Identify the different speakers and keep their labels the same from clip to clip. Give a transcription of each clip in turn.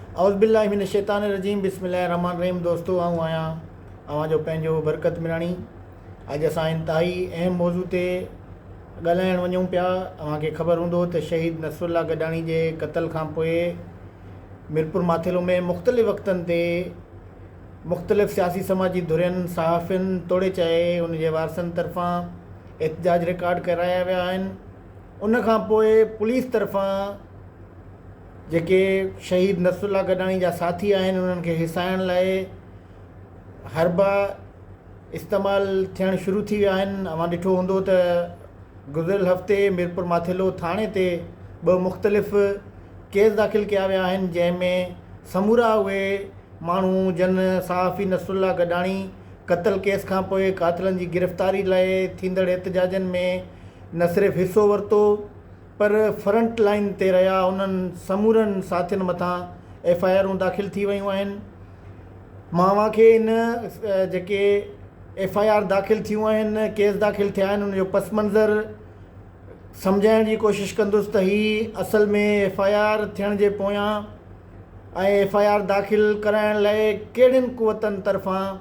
Speaker 1: اعوذبالله من الشيطان الرجيم بسم الله الرحمٰن الرحيم دوستو آئون آهيان اوهان جو پنهنجو برڪت ميراڻي اڄ اسان انتهائي اهم موضوع تي ڳالهائڻ وڃون پيا اوهان کي خبر هوندو ته شهيد نصر الله گڏاڻي جي قتل کان پوء ميرپور ماٿيلو ۾ مختلف وقتن تي مختلف سياسي سماجي ڌرين صحافين توڙي چاهي ان جي وارثن طرفان احتجاج رڪارڊ ڪرايا ويا آهن ان کان پوء پوليس طرفان جيڪي شهيد نصرالله گڏاڻي جا ساٿي آهن انهن کي هيسائڻ لاء حربا استعمال ٿيڻ شروع ٿي ويا آهن اوهان ڏٺو هوندو ته گذريل هفتي ميرپور ماٿيلو ٿاڻي تي ٻه مختلف ڪيس داخل ڪيا ويا آهن جنهن ۾ سمورا اهي ماڻهو جن صحافي نصرالله گڏاڻي قتل ڪيس کان پوء قاتلن جي گرفتاري لاء ٿيندڙ احتجاجن ۾ نه صرف حصو ورتو پر فرنٽ لائين تي رهيا انهن سمورن ساٿين مٿان ايف آء آرون داخل ٿي ويون آهن ماوا کي ان جيڪي ايف آء آر داخل ٿيون آهن ڪيس داخل ٿيا آهن ان جو پس منظر سمجهائڻ جي ڪوشش ڪندس ته هي اصل ۾ ايف آء آر ٿيڻ جي پويان ۽ ايف آء آر داخل ڪرائڻ لاء ڪهڙين قوتن طرفان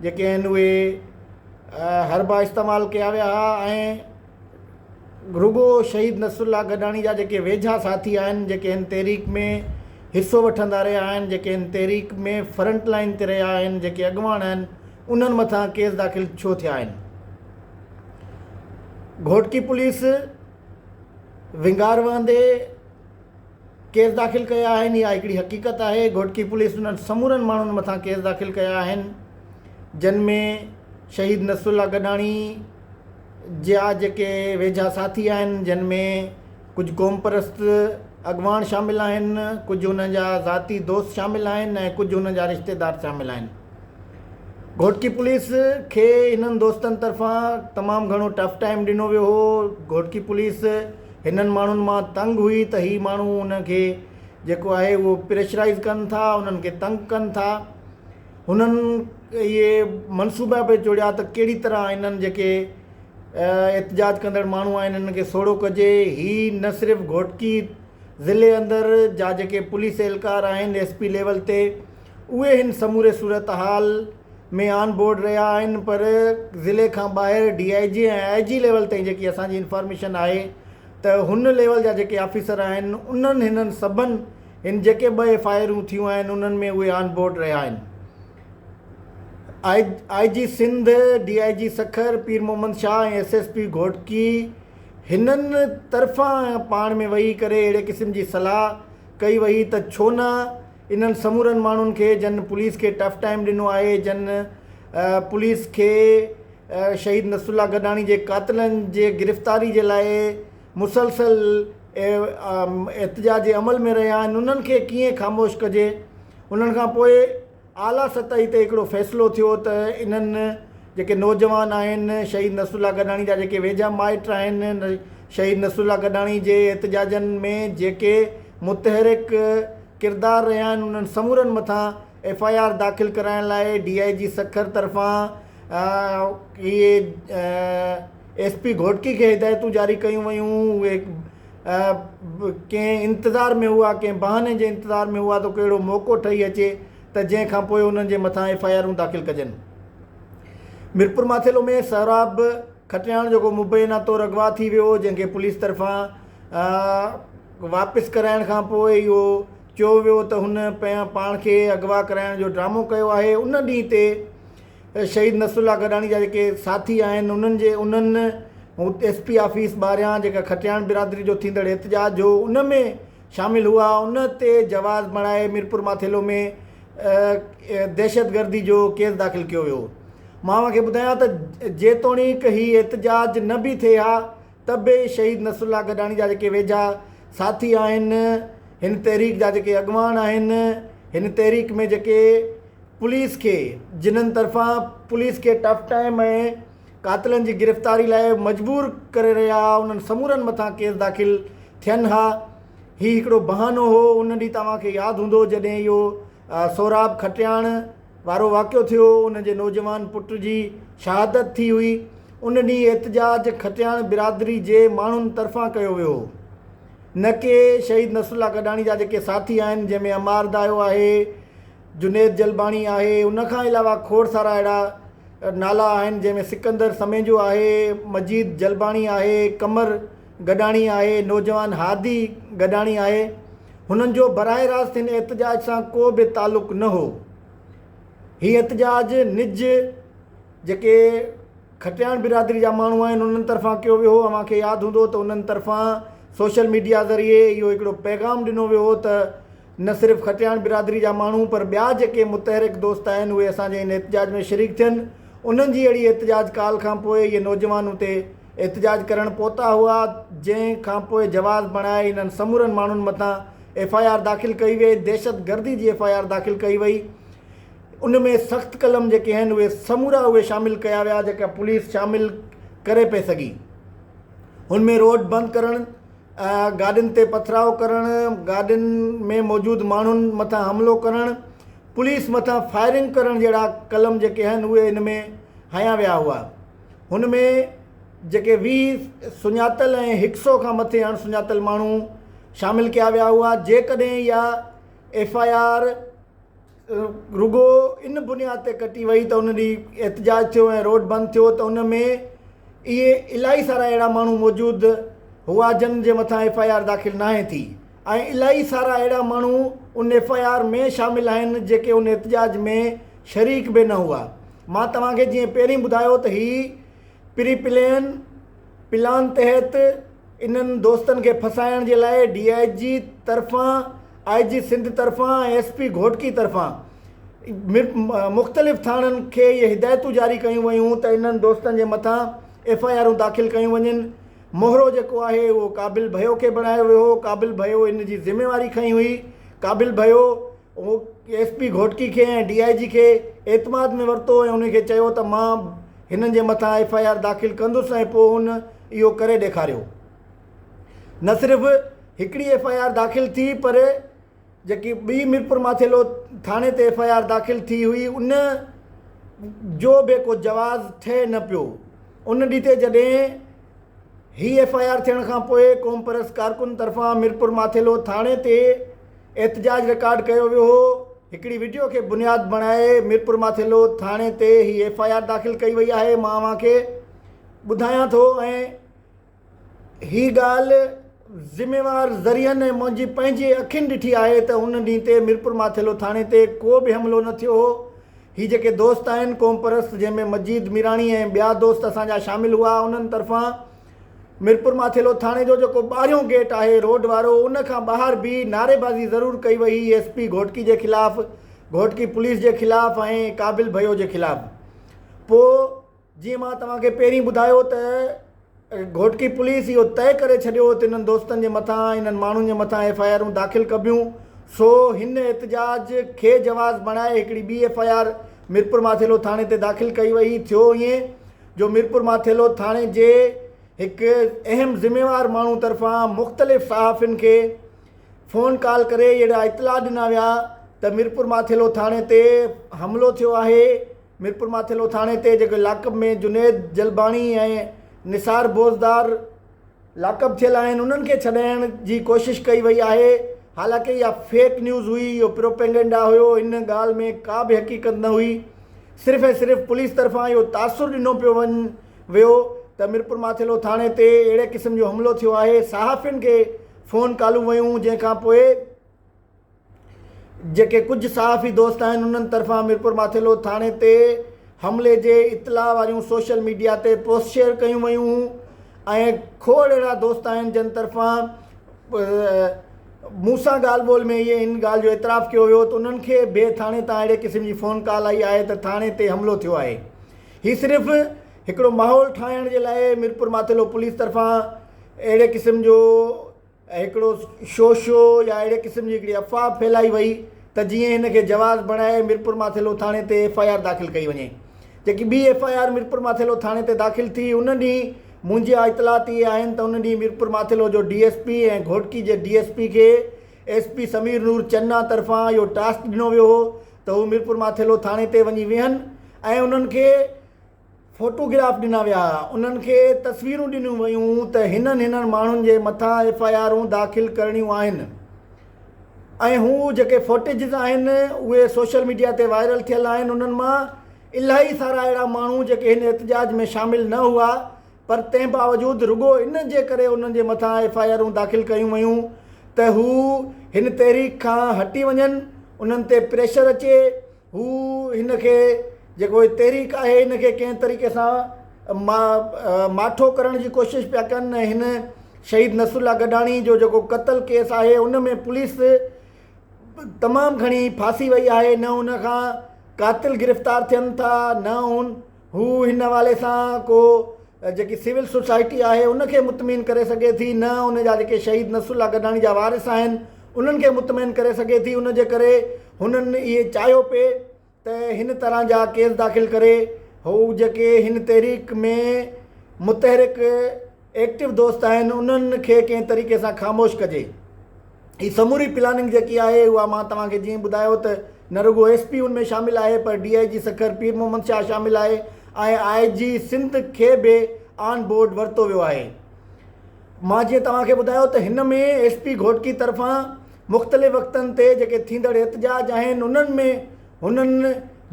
Speaker 1: جيڪي آهن اهي حربا استعمال ڪيا ويا هئا ۽ رڳو شهيد نصرالله گڏاڻي جا جيڪي ويجها ساٿي آهن جيڪي هن تحريڪ ۾ حصو وٺندا رهيا آهن جيڪي هن تحريڪ ۾ فرنٽ لائين تي رهيا آهن جيڪي اڳواڻ آهن انهن مٿان ڪيس داخل ڇو ٿيا آهن گهوٽڪي پوليس ونگار وهندي ڪيس داخل ڪيا آهن اها هڪڙي حقيقت آهي گهوٽڪي پوليس انهن سمورن ماڻهن مٿان ڪيس داخل ڪيا آهن جن ۾ شهيد نصرالله گڏاڻي جا جيڪي ويجها ساٿي آهن جن ۾ ڪجهه قومپرست اڳواڻ شامل آهن ڪجهه انهن جا ذاتي دوست شامل آهن ۽ ڪجهه انهن جا رشتيدار شامل آهن گهوٽڪي پوليس کي انهن دوستن طرفان تمام گهڻو ٽف ٽائيم ڏنو ويو هو گهوٽڪي پوليس هنن ماڻهن مان تنگ هئي ته هي ماڻهو انهن کي جيڪو آهي اهو پريشرائيز ڪن ٿا انهن کي تنگ ڪن ٿا هنن اهي منصوبا به جوڙيا ته ڪهڙي طرح هنن جيڪي احتجاج ڪندڙ ماڻهو آهن هنن کي سوڙهو ڪجي هي نه صرف گهوٽڪي ضلعي اندر جا جيڪي پوليس اهلڪار آهن ايس پي ليول تي اهي هن سموري صورتحال ۾ آن بورڊ رهيا آهن پر ضلعي کان ٻاهر D I G ۽ I G level تائين جيڪي اسان جي انفارميشن آهي ته هن ليول جا جيڪي آفيسر آهن انهن هنن سڀن هن جيڪي ٻه ايف آء آرون ٿيون آهن انهن ۾ اهي آن بورڊ رهيا آهن آء G Sindh, D I G Sukkur, Pir Muhammad Shah ۽ S S P Ghotki هنن طرفان پاڻ ۾ ويهي ڪري اهڙي قسم جي صلاح ڪئي ويئي ته ڇو نه انهن سمورن ماڻهن کي جن پوليس کي ٽف ٽائيم ڏنو آهي جن پوليس کي شهيد نصرالله گڏاڻي جي قاتلن جي گرفتاري جي لاء مسلسل احتجاجي عمل ۾ رهيا آهن انهن کي ڪيئن خاموش ڪجي انهن کان پوء اعليٰ سطحي تي هڪڙو فيصلو ٿيو ته انهن جيڪي نوجوان آهن شهيد نصر الله گڏاڻي جا جيڪي ويجها مائٽ آهن شهيد نصر الله گڏاڻي جي احتجاجن ۾ جيڪي متحرڪ ڪردار رهيا آهن انهن سمورن مٿان ايف آء آر داخل ڪرائڻ لاء ڊي آء جي سکر طرفان اهي ايس پي گهوٽڪي کي هدايتون جاري ڪيون ويون، اهي ڪنهن انتظار ۾ هئا، ڪنهن بهاني جي انتظار ۾ هئا ته ڪو اهڙو موقعو ٺهي اچي ته جنهن کان پوء انهن جي مٿان ايف آء آرون داخل ڪجن. ميرپورماٿيلو ۾ سهراب کٽياڻ جو ڪو مبينا طور اغوا ٿي ويو هو جنهن کي پوليس طرفان واپس ڪرائڻ کان پوء اهو چيو ويو ته هن پاڻ کي اغوا ڪرائڻ جو ڊرامو ڪيو آهي ان ڏينهن تي شهيد نصر الله گڏاڻي جا جيڪي ساٿي آهن انهن جي انهن ايس پي آفيس ٻاهريان جيڪا کٽياڻ برادري جو ٿيندڙ احتجاج هو ان ۾ شامل هئا ان تي جواز مڙهائي ميرپورماٿيلو ۾ دهشت گردي جو ڪيس داخل ڪيو ويو مان اوهان کي ٻڌايان ته جيتوڻيڪ هي احتجاج نه به ٿئي ها ته به شهيد نصرالله گڏاڻي جا جيڪي ويجها ساٿي آهن، هن تحريڪ جا جيڪي اڳواڻ آهن، هن تحريڪ ۾ جيڪي پوليس کي جنھن طرفان پوليس کي ٽف ٽائيم ۽ قاتلن جي گرفتاري لاء مجبور ڪري رهيا ھئا انھن سمورن مٿان ڪيس داخل ٿين ھا ھي ھڪڙو بهانو ھو ان ڏينھن توهان کي ياد ھوندو جڏهن اهو سهراب کٽياڻ وارو واقعو ٿيو، ان جي نوجوان پٽ جي شهادت ٿي هئي، ان ڏينهن احتجاج کٽياڻ برادري جي ماڻهن طرفان ڪيو ويو هو، نه ڪي شهيد نصرالله گڏاڻي جا جيڪي ساٿي آهن، جنهن ۾ عمار دايو آهي، جنيد جلباڻي آهي، ان کان علاوه کوڙ سارا اهڙا نالا آهن، جنهن ۾ سڪندر سميجو آهي، مجيد جلباڻي آهي، قمر گڏاڻي آهي، نوجوان هادي گڏاڻي آهي، هنن جو براه راست هن احتجاج سان ڪو به تعلق نه هو. هي احتجاج نج جيڪي کٽياڻ برادري جا ماڻهو آهن انهن طرفان ڪيو ويو هو، اوهان کي ياد هوندو ته انهن طرفان سوشل ميڊيا ذريعي اهو هڪڙو پيغام ڏنو ويو هو ته نه صرف کٽياڻ برادري جا ماڻهو پر ٻيا جيڪي متحرڪ دوست آهن اهي اسان جي هن احتجاج ۾ شريڪ ٿين، انهن جي اهڙي احتجاج ڪال کانپوء اهي نوجوان اتي احتجاج ڪرڻ پهتا هئا جنهن کانپوء جواز بڻائي انهن سمورن ماڻهن مٿان ايف آء آر داخل ڪئي وئي دهشت گردي جي ايف آء آر داخل ڪئي وئي ان ۾ سخت قلم جيڪي آهن اهي سمورا اهي شامل ڪيا ويا جيڪا پوليس شامل ڪري پئي سگهي ان ۾ روڊ بند ڪرڻ گاڏين تي پٿراء ڪرڻ گاڏين ۾ موجود ماڻهن مٿان حملو ڪرڻ پوليس مٿان فائرنگ ڪرڻ جهڙا قلم جيڪي آهن اهي ان ۾ هنيا ويا هئا هن ۾ جيڪي ويهه سڃاتل ۽ هڪ سئو کان مٿي اڻ سڃاتل ماڻهو شامل ڪيا ويا هئا جيڪڏهن اها ايف آء آر رڳو ان بنياد تي ڪٽي وئي ته ان ڏينهن احتجاج ٿيو ۽ روڊ بند ٿيو ته ان ۾ اهي الاهي سارا اهڙا ماڻهو موجود هئا جن جي مٿان ايف آء آر داخل ناهي ٿي ۽ الاهي سارا اهڙا ماڻهو ان ايف آء آر ۾ شامل آهن جيڪي ان احتجاج ۾ شريڪ به نه هئا مان توهان کي جيئن پهرين ٻڌايو ته هي پري پلين پلان تحت انهن دوستن کي ڦسائڻ جي لاء ڊي آء جي طرفان آء جي سنڌ طرفان ۽ ايس پي گهوٽڪي طرفان مختلف ٿاڻن کي اهي هدايتون جاري ڪيون ويون ته انهن دوستن جي مٿان ايف آء آرون داخل ڪيون وڃن مهرو جيڪو آهي اهو قابل ڀيو کي بڻايو ويو هو، قابل ڀيو ان جي ذميواري کنئي هئي، قابل ڀيو ايس پي گهوٽڪي کي ۽ ڊي آء جي کي اعتماد ۾ ورتو ۽ انهن کي چيو ته مان هنن جي مٿان ايف آء آر داخل ڪندس ۽ پوء هن اهو ڪري ڏيکاريو نه صرف هڪڙي ايف آء آر داخل ٿي پر جيڪي ٻي ميرپورماٿيلو ٿاڻي تي ايف آء آر داخل ٿي هئي ان جو به ڪو جواز ٺهي نه پيو ان ڏي تي جڏهن هي ايف آء آر ٿيڻ کان پوء قومپرست ڪارڪن طرفان ميرپورماٿيلو ٿاڻي تي احتجاج رڪارڊ ڪيو ويو هو هڪڙي وڊيو کي بنياد بڻائي ميرپورماٿيلو ٿاڻي تي هي ايف آء آر داخل ڪئي وئي آهي مان اوهان کي ٻڌايان ٿو ۽ هي ڳالهه ذميوار ذريعن ۽ منهنجي پنهنجي اکين ڏٺي آهي ته ان ڏينهن تي ميرپور ماٿيلو ٿاڻي تي ڪو به حملو نه ٿيو هو. هي جيڪي دوست آهن قومپرست جنهن ۾ مجيد ميراڻي ۽ ٻيا دوست اسان جا شامل هئا انهن طرفان ميرپور ماٿيلو ٿاڻي جو جيڪو ٻاهريون گيٽ آهي روڊ وارو ان کان ٻاهر بيهي نعريبازي ضرور ڪئي وئي هئي ايس پي گهوٽڪي جي خلاف گهوٽڪي پوليس جي خلاف ۽ قابل ڀيو جي خلاف پوء جيئن مان توهان کي پهرين ٻڌايو ته گهوٽڪي پوليس اهو طئي ڪري ڇڏيو هو ته انهن دوستن جي مٿان انهن ماڻهن جي مٿان ايف آء آرون داخل ڪبيون سو هن احتجاج کي جواز بڻائي هڪڙي ٻي ايف آء آر ميرپورماٿيلو ٿاڻي تي داخل ڪئي وئي ٿيو ائين جو ميرپورماٿيلو ٿاڻي جي هڪ اهم ذميوار ماڻهو طرفان مختلف صحافين کي فون ڪال ڪري اهڙا اطلاع ڏنا ويا ته ميرپورماٿيلو ٿاڻي تي حملو ٿيو آهي ميرپور ماٿيلو ٿاڻي تي جيڪي لاڪپ ۾ جنيد جلباڻي ۽ نثار بوزدار لاڪپ ٿيل آهن انهن کي ڇڏائڻ جي ڪوشش ڪئي وئي آهي حالانڪه اها فيڪ نيوز هئي اهو پروپيگنڊا هيو ان ڳالهه ۾ ڪا به حقيقت نه هئي صرف ۽ صرف پوليس طرفان اهو تاثر ڏنو پيو وڃ ويو ته ميرپور ماٿيلو ٿاڻي تي اهڙي قسم جو حملو ٿيو آهي صحافين کي فون ڪالون ويون جنهن کانپوء جيڪي ڪجهه صحافي دوست آهن انهن طرفان ميرپور ماٿيلو ٿاڻي تي حملي جي اطلاع واريون سوشل ميڊيا تي پوسٽ شيئر ڪيون ويون ۽ کوڙ اهڙا دوست آهن جن طرفان مون سان ڳالهه ٻولهه ۾ اهي ان ڳالهه جو اعتراف ڪيو ويو ته انهن کي به ٿاڻي تان اهڙي قسم جي فون ڪال آئي آهي ته ٿاڻي تي حملو ٿيو آهي هي صرف هڪڙو ماحول ٺاهڻ جي لاء ميرپور ماٿيلو پوليس طرفان اهڙي قسم جو ۽ هڪڙو شو شو يا اهڙي قسم جي هڪڙي افواهه ڦهلائي وئي ته جيئن هن کي جواز بڻائي ميرپورماٿيلو ٿاڻي تي ايف آء آر داخل ڪئي وڃي جيڪي ٻي ايف آء آر ميرپورماٿيلو ٿاڻي تي داخل ٿي ان ڏينهن منهنجيا اطلاعات اهي آهن ته ان ڏينهن ميرپورماٿيلو جو ڊي ايس پي ۽ گهوٽڪي جي ڊي ايس پي کي ايس پي سمير نور چنا طرفان اهو ٽاسڪ ڏنو ويو هو ته هو ميرپورماٿيلو ٿاڻي تي وڃي ويهن ۽ انهن کي فوٽوگراف ڏنا ويا، انهن کي تصويرون ڏنيون ويون ته هنن هنن ماڻهن جي مٿان ايف آء آرون داخل ڪرڻيون آهن ۽ هو جيڪي فوٽيجز آهن اهي سوشل ميڊيا تي وائرل ٿيل آهن انهن مان الاهي سارا اهڙا ماڻهو جيڪي هن احتجاج ۾ شامل نه هئا پر تنهن باوجود رڳو ان جي ڪري انهن جي مٿان ايف آء آرون داخل ڪيون ويون ته هو هن تحريڪ کان هٽي وڃن انهن تي پريشر اچي هو هن کي جيڪو هي تحريڪ آهي ان کي ڪنهن طريقي سان ما ماٺو ڪرڻ جي ڪوشش پيا ڪن ۽ هن شهيد نصر الله گڏاڻي جو جيڪو قتل ڪيس آهي ان ۾ پوليس تمام گهڻي ڦاسي وئي آهي نه ان کان قاتل گرفتار ٿين ٿا نه هن هو هن حوالي سان ڪو جيڪي سول سوسائٽي آهي ان کي مطمئن ڪري سگهي ٿي نه ان جا جيڪي شهيد نصر الله گڏاڻي جا وارث آهن انهن کي مطمئن ڪري سگهي ٿي ان جي ڪري هنن اهي چاهيو پئي ته هن طرح جا ڪيس داخل ڪري هو جيڪي هن تحريڪ ۾ متحرڪ ايڪٽو دوست آهن انهن کي ڪنهن طريقي سان خاموش ڪجي هي سموري پلاننگ جيڪي آهي اها مان توهان کي جيئن ٻڌايو ته نه رڳو ايس پي ان ۾ شامل آهي پر D I G Sukkur Pir Muhammad Shah شامل آهي ۽ آء جي سنڌ کي به آن بورڊ ورتو ويو آهي مان جيئن توهان کي ٻڌايو ته هن ۾ ايس پي گهوٽڪي طرفان مختلف وقتن تي جيڪي ٿيندڙ احتجاج آهن انهن ۾ هنن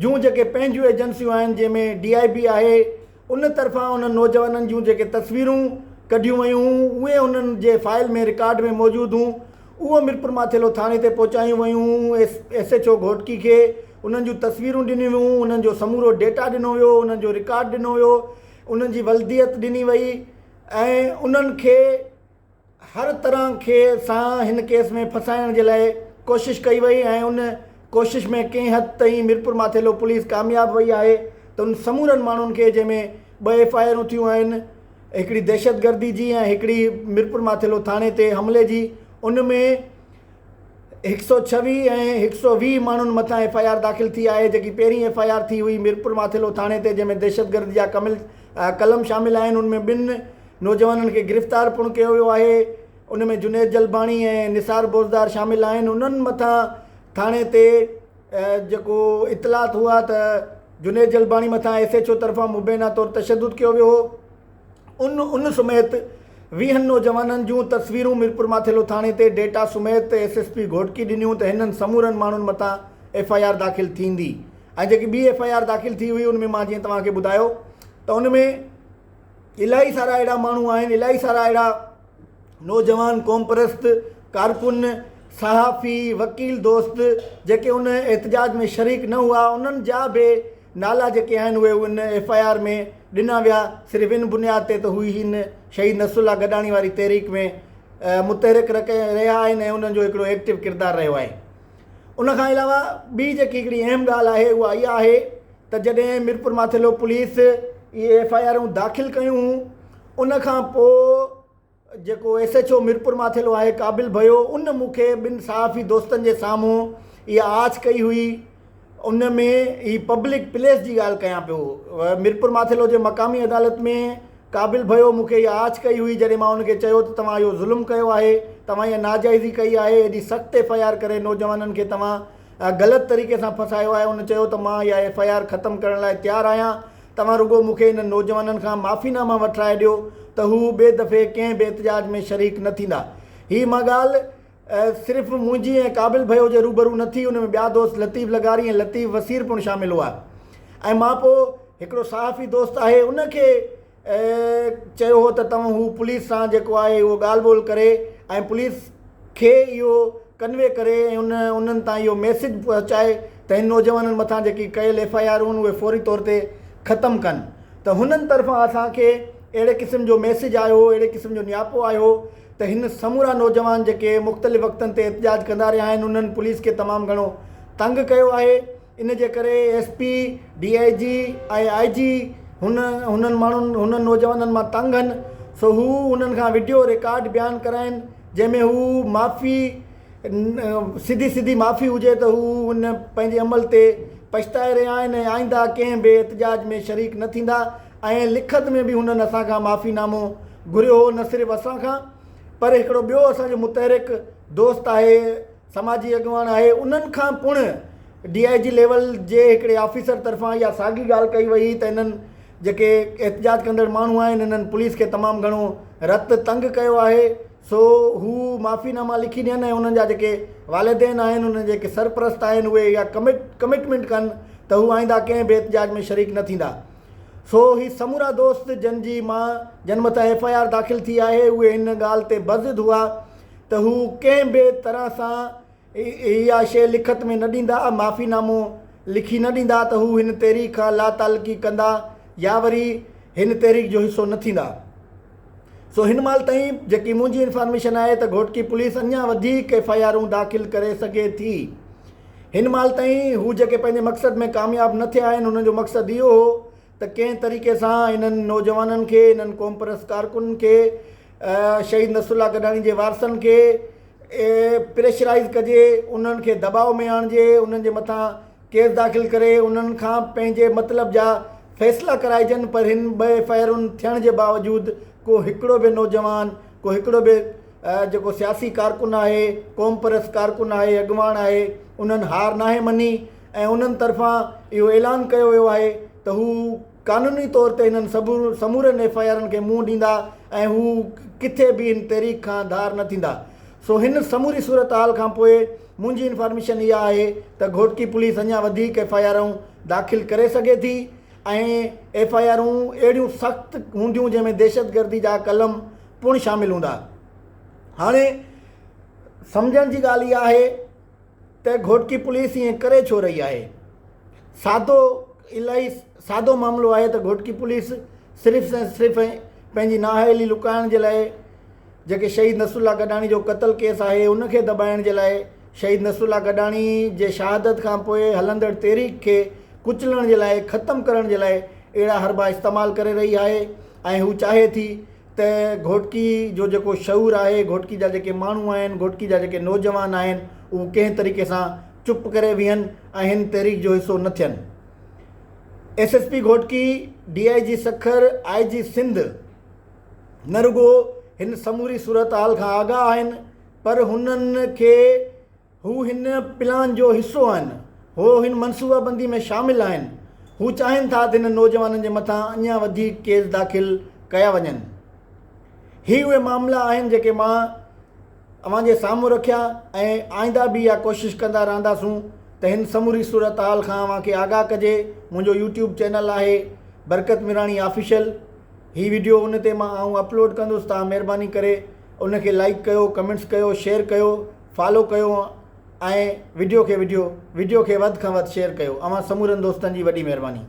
Speaker 1: جون جيڪي پنهنجون ايجنسيون آهن جنهن ۾ ڊي آء بي آهي ان طرفان انهن نوجوانن جون جيڪي تصويرون ڪڍيون ويون هون اهي انهن جي فائل ۾ رڪارڊ ۾ موجود هون اهو ميرپورماٿيلو ٿاڻي تي پهچايون ويون هون ايس ايڇ او گهوٽڪي کي انهن جون تصويرون ڏنيون ويون انهن جو سمورو ڊيٽا ڏنو ويو انهن جو رڪارڊ ڏنو ويو انهن جي ولديت ڏني وئي ۽ انهن کي هر طرح کي سان هن ڪيس ۾ ڦاسائڻ جي لاء ڪوشش ڪئي وئي ۽ ان ڪوشش ۾ ڪنهن حد تائين ميرپورماٿيلو پوليس ڪامياب وئي آهي ته ان سمورن ماڻهن کي جنهن ۾ ٻه ايف آء آرون ٿيون آهن هڪڙي دهشتگردي جي ۽ هڪڙي ميرپورماٿيلو ٿاڻي تي حملي جي ان ۾ هڪ سؤ ڇويهه ۽ هڪ سؤ ويهه ماڻهن مٿان ايف آء آر داخل ٿي آهي جيڪي پهرين ايف آء آر ٿي هئي ميرپور ماٿيلو ٿاڻي تي جنهن ۾ دهشتگردي جا ڪمل قلم شامل آهن ان ۾ ٻن نوجوانن کي گرفتار پڻ ڪيو ويو آهي ان ۾ جنيد جلباڻي ۽ نثار بوزدار شامل آهن انهن مٿان ٿاڻي تي جيڪو اطلاعات هئا ته جنيد جلباڻي مٿان ايس ايڇ او طرفان مبينا طور تشدد ڪيو ويو هو ان ان سميت ويهن نوجوانن جون تصويرون ميرپورماٿيلو ٿاڻي تي ڊيٽا سميت ايس ايس پي گهوٽڪي ڏنيون ته هنن سمورن ماڻهن مٿان ايف آء آر داخل ٿيندي ۽ جيڪي ٻي ايف آء آر داخل ٿي هئي ان ۾ مان جيئن توهان کي ٻڌايو ته ان ۾ الائي سارا اهڙا ماڻهو آهن الائي سارا اهڙا نوجوان قوم پرست ڪارڪن صحافي وڪيل دوست جيڪي ان احتجاج ۾ شريڪ نه هئا انهن جا به نالا جيڪي آهن اهي ان ايف آء آر ۾ ڏنا ويا صرف ان بنياد تي ته هو هن شهيد نصرالله گڏاڻي واري تحريڪ ۾ متحرڪ رهيا آهن ۽ انهن جو هڪڙو ايڪٽو ڪردار رهيو آهي ان کان علاوه ٻي جيڪي هڪڙي اهم ڳالهه آهي اها اها آهي ته جڏهن ميرپور ماٿيلو پوليس اهي ايف آء آرون داخل ڪيون ان کان پوء جيڪو S H O Mirpur Mathelo آهي قابل ڀيو ان مون کي ٻن صحافي دوستن جي سامهون اها آڇ ڪئي هئي ان ۾ هي پبلڪ پليس جي ڳالهه ڪيان پيو ميرپور مان ٿيلهو جي مقامي عدالت ۾ قابل ڀيو مون کي اها آڇ ڪئي هئي جڏهن مان ان کي چيو ته توهان اهو ظلم ڪيو آهي توهان اها ناجائزي ڪئي آهي ايڏي سخت ايف آء آر ڪري نوجوانن کي توهان غلط طريقي سان ڦسايو آهي ان چيو ته مان اها ايف آء آر ختم ڪرڻ لاء تيار آهيان توهان رڳو مون کي انهن نوجوانن کان معافي نامه وٺرائي ڏيو ته هو ٻئي دفعي ڪنهن به احتجاج ۾ شريڪ نه ٿيندا. هي مان ڳالهه صرف منهنجي ۽ قابل ڀيو جي روبرو نه ٿي، ان ۾ ٻيا دوست لطيف لغاري ۽ لطيف وسير پڻ شامل هئا ۽ مان پوء هڪڙو صحافي دوست آهي ان کي چيو هو ته توهان هو پوليس سان جيڪو آهي اهو ڳالهه ٻولهه ڪري ۽ پوليس کي اهو ڪنوي ڪري ۽ انهن تان اهو ميسيج پهچائي ته هن نوجوانن مٿان جيڪي ڪيل ايف آء آر هن اهي فوري طور تي ختم ڪن ته هنن طرفان اسان کي اهڙي قسم جو ميسيج آيو هو اهڙي قسم جو نياپو آيو هو ته هن سمورا نوجوان جيڪي مختلف وقتن تي احتجاج ڪندا رهيا آهن انهن پوليس کي تمام گهڻو تنگ ڪيو آهي ان جي ڪري S P, D I G ۽ I G هن هنن ماڻهن هنن نوجوانن مان تنگ هن سو هو انهن کان وڊيو ريڪارڊ بيان ڪرائين جنهن ۾ هو معافي سڌي سڌي معافي هجي ته هو ان پنهنجي عمل تي پڇتائي رهيا آهن ۽ آئنده ڪنهن به احتجاج ۾ شريڪ نه ٿيندا ۽ لکت ۾ به هنن اسان کان معافي نامو گهريو هو نه صرف اسان کان پر هڪڙو ٻيو اسان جو متحرڪ دوست آهي سماجي اڳواڻ آهي انهن کان پڻ ڊي آء جي ليول جي هڪڙي آفيسر طرفان اها ساڳي ڳالهه ڪئي وئي هئي ته انهن جيڪي احتجاج ڪندڙ ماڻهو آهن انهن پوليس کي تمام گهڻو رت تنگ ڪيو آهي سو هو معافي ناما لکي ڏين ۽ انهن جا جيڪي والدين آهن انهن جا جيڪي سرپرست آهن اهي اها ڪمٽمينٽ ڪن ته هو آئنده ڪنهن به احتجاج ۾ شريڪ نه ٿيندا سو هي سمورا دوست جن جي مان جن مٿان ايف آء آر داخل ٿي آهي اهي هن ڳالهه تي بضد هئا ته هو ڪنهن به طرح سان اها شيء لکت ۾ نه ڏيندا، معافي نامو لکي نه ڏيندا ته هو هن تحريڪ کان لاتعلقي ڪندا يا وري هن تحريڪ جو حصو نه ٿيندا. سو هن مهل تائين جيڪي منهنجي انفارميشن آهي ته گهوٽڪي پوليس اڃا وڌيڪ ايف آء آرون داخل ڪري سگهي ٿي. هن مهل تائين هو جيڪي پنهنجي مقصد ۾ ڪامياب نه ٿيا آهن انهن جو مقصد اهو هو ته ڪنهن طريقي سان انهن نوجوانن کي انهن قومپرست ڪارڪنن کي شهيد نصر الله گڏاڻي جي وارثن کي پريشرائيز ڪجي انهن کي دٻاء ۾ آڻجي انهن جي مٿان ڪيس داخل ڪري انهن کان پنهنجي مطلب جا فيصلا ڪرائجن پر هن ٻه ايف آء آرن ٿيڻ جي باوجود ڪو هڪڙو به نوجوان ڪو هڪڙو به جيڪو سياسي ڪارڪن آهي قومپرست ڪارڪن آهي اڳواڻ آهي انهن هار ناهي مڃي ۽ انهن طرفان اهو اعلان ڪيو ويو آهي ته هو قانوني طور تي انهن سمورن ايف آء آرن کي منهن ڏيندا ۽ هو ڪٿي به هن تحريڪ کان ڌار نه ٿيندا سو هن سموري صورتحال کان پوء منهنجي انفارميشن اها آهي ته گهوٽڪي پوليس اڃا وڌيڪ ايف آء آرون داخل ڪري سگهي ٿي ۽ ايف آء آرون اهڙيون سخت هونديون جنهن ۾ دهشتگردي جا قلم پڻ شامل هوندا هاڻي سمجهڻ جي ڳالهه اها آهي ته گهوٽڪي پوليس ائين ڪري ڇو رهي آهي؟ سادو الاهي سادو معاملو آهي ته گهوٽڪي پوليس صرف ۽ صرف پنهنجي نااهلي لڪائڻ جي لاء جيڪي شهيد نصرالله گڏاڻي جو قتل ڪيس آهي ان کي دٻائڻ جي لاء شهيد نصرالله گڏاڻي جي شهادت کان پوء هلندڙ تحريڪ کي ڪچلڻ جي لاء ختم ڪرڻ جي لاء اهڙا حربا استعمال ڪري رهي آهي ۽ هو چاهي ٿي ته گهوٽڪي جو جيڪو شعور آهي، گهوٽڪي جا جيڪي ماڻهو آهن، گهوٽڪي جا جيڪي نوجوان آهن، اهو ڪنهن طريقي سان چپ ڪري ويهن ۽ هن تحريڪ جو حصو نه ٿين. S S P Ghotki, D I G Sukkur, I G Sindh نه رڳو هن سموري صورتحال کان آگاهه آهن پر هنن کي هو هن پلان جو حصو آهن، هو هن منصوبابندي ۾ شامل آهن، هو چاهين ٿا ته هنن نوجوانن جي مٿان اڃا وڌيڪ ڪيس داخل ڪيا وڃن. هي اهي معاملا آهن جيڪي مان اوهان جي سامهون رکيا ۽ آئنده به اها ڪوشش ڪندا رهنداسون ته هن سموري صورتحال کان اوهان کي آگاهه ڪجي، منهنجو يوٽيوب چينل آهي برڪت ميراڻي آفيشل هي وڊيو ان تي مان آئون اپلوڊ ڪندس تان مهرباني ڪري ان کي لائيڪ ڪيو ڪمينٽس ڪيو شيئر ڪيو. فالو ڪيو ۽ وڊيو کي وڊيو وڊيو کي وڌ کان وڌ شيئر ڪيو اوهان سمورن دوستن جي وڏي مهرباني.